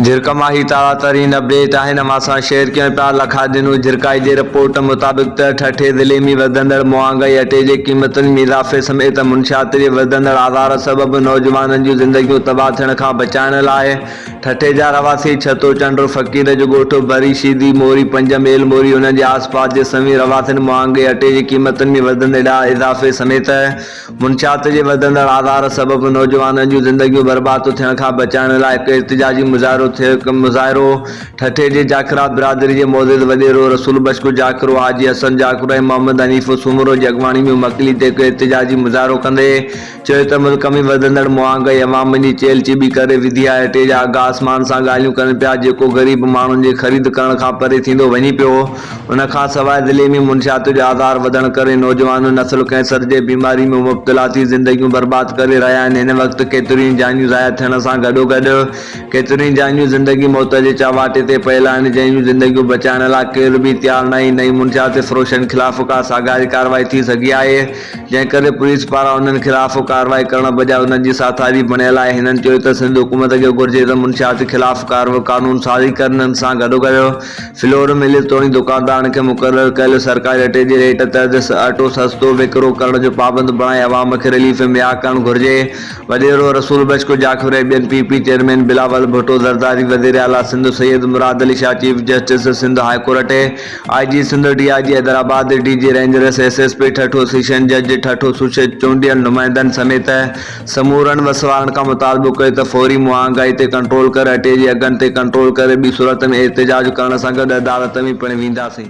جھرڪ مان ھي تازا ترين اپڊيٽ آھن اوھان سان شيئر ڪيون پيا لکا ڏنو جھرڪائي جي رپورٽ مطابق ته ٺٽي ضلعي ۾ وڌندڙ مھانگائي اٽي جي قيمتن ۾ اضافي سميت منشيات جي وڌندڙ آزار سبب نوجوانن جون زندگيون تباھ ٿيڻ کان بچائڻ لاء ٺٽي جا رھواسي ڇتو چنڊ فقير جو ڳوٺ ڀري شيدي موري پنج ميل موري انھن جي آس پاس جي سوين رھواسين مھانگي اٽي جي قيمتن ۾ وڌندڙ اضافي سميت منشيات جي وڌندڙ آزار سبب نوجوانن جون زندگيون برباد ٿيڻ کان بچائڻ لاء هڪ احتجاجي مظاهرو ٿيو مظاهرو ٺٽي جي جاکرا برادري جي معزز وڏيرو رسول بخش جاکرو حاجي حسن جاکرو ۽ محمد حنيف سومرو جي اڳواڻي ۾ مڪلي تي هڪ احتجاجي مظاهرو ڪندي چيو ته ملڪ ۾ وڌندڙ مهانگائي عوام جي چيل چيٻي ڪري وڌي آهي اٽي جا اگهه آسمان سان ڳالهيون ڪن پيا جيڪو غريب ماڻهن جي خريد ڪرڻ کان پري ٿيندو وڃي پيو ان کان سواء ضلعي ۾ منشيات جو آزار وڌڻ ڪري نوجوان نسل ڪينسر جي بيماري ۾ مبتلا ٿي زندگيون برباد ڪري رهيا آهن هن وقت ڪيتريون ئي جانيون ضايع ٿيڻ سان گڏوگڏ ڪيتريون ئي جانيون زندگي موت جي چهواٽي تي پيل آهن جنهن جون زندگيون بچائڻ لاء ڪير به تيار ناهي نه ئي منشيات فروشن خلاف ڪا ساڳاري ڪارروائي ٿي سگهي آهي جنهن ڪري پوليس پاران انهن خلاف ڪارروائي ڪرڻ بجاء انهن جي ساٿاري بڻيل آهي هنن چيو ته سنڌ حڪومت کي گهرجي ته منشيات خلاف ڪارو قانون سازي ڪري انهن سان گڏوگڏ فلور ملز توڙي دڪاندارن کي مقرر ڪيل سرڪاري اٽي جي ريٽ تحت اٽو سستو وڪرو ڪرڻ جو پابند بڻائي عوام کي رليف مھيا ڪرڻ گھرجي، وڏيرو رسول بخش ڪجاخيلو ۽ ٻين P P chairman Bilawal Bhutto Zardari, وزيراعليٰ Sindh Syed Murad Ali Shah, chief justice Sindh high court, I G Sindh, D I G Hyderabad, D G rangers, S S P Thatta, session جج ٺٽو، سوشيت چونڊيل نمائندن سميت سمورن وسواڻ کان مطالبو ڪيو ته فوري مهانگائي تي ڪنٽرول ڪري اٽي جي اگهن تي ڪنٽرول ڪري ٻي صورت ۾ احتجاج ڪرڻ سان گڏ عدالت ۾ پڻ وينداسين.